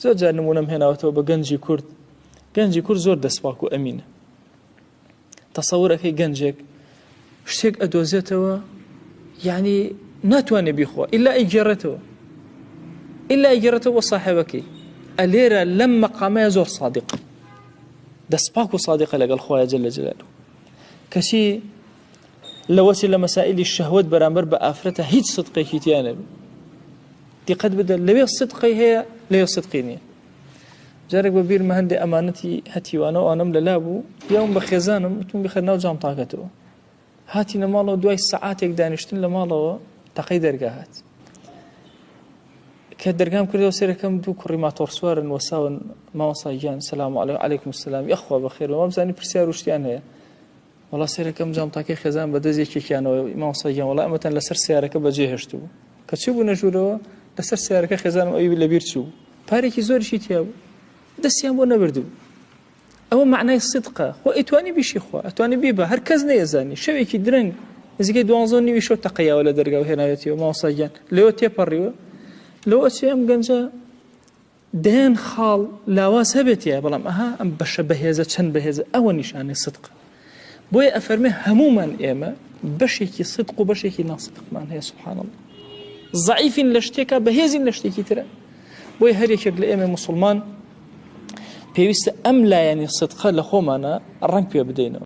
زۆر جار نمونەم هێناوەتەوە بە گەنجی کورد گەنجی کورد زۆر دەستپاک و ئەمینە تەسەورەکەی گەنجێک شتێک ئەدۆزێتەوە یعنی ناتوانێ بیخوا ئللا ئەیگێڕێتەوە ئللا ئەیگێڕێتەوە ساحەوەکەی ئەلێرە لەم مەقامەیە زۆر صادق دەستپاک و صادقە لەگەڵ خۆیان جل لە جلال کەچی لەوەچێ لەمەسائیلی شەهوەت بەرامبەر بە ئافرەتە هیچ صدقێکی تیا نەبێ دیقەت بدە لەوێ صدقی هەیە لەوێ صدقی نییە جارێک بە بیرمە هەندێ ئەمانەتی هەتیوانە و ئەنم لەلا بوو یاوم بە خێزانم وتم بخە ناو جام تاکەتەوە هاتی لە ماڵەوە دوای سعاتێک دانیشتن لە ماڵەوە تەقەی دەرگا هات کە دەرگام کردەوە سەرەکەم دوو کوڕی ماتۆڕسوارن وەساون ماوەساییان سلام عليهلەیکم سلام یخوا بەخێرەوە بزانانی پرسیار وشتیان هەیە وەڵا سەیرەکەم جانتاکەی خێزان بە دەست یەکێکیانەوە مامۆستا گیان وەڵا ئەمەتان لەسەر سیارەکە بەجێ هێشتوو کە چی بوو نەژوورەوە لەسەر سیارەکە خێزانم ئەوی لەبیر چوو پارێکی زۆرشی تیا بوو دەستیان بۆ نەبردوو ئەوە معنای صدقە خۆ ئەتوانی بیشی خۆ ئەتوانی بی بە هەر کەس نەیەزانی شەوێکی درەنگ نزیکەی دوانزۆ نیوی شەو تەقییاوە لە دەرگا و هێناوێتیەوە ماوەساگیان لەوە تێپەڕیوە لەوە چێ ئەم گەنجە دەیان خاڵ لاواز هەبێت تیایە بەڵام ئەها ئەم بەشە بەهێزە چەند بەهێزە ئەوە نیشانەی سدقە بۆیە ئەفەرمێ هەمومان ئێمە بەشێکی سدق و بەشێکی ناسدقمان هەیە سبحان الله زعیفین لە شتێکە بەهێزین لە شتێکی ترە بۆی هەرێکێک لە ئێمە مسلمان پێویستە ئەم لایەنی سدقە لە خۆمانە ڕنگ پێ بدەینەوە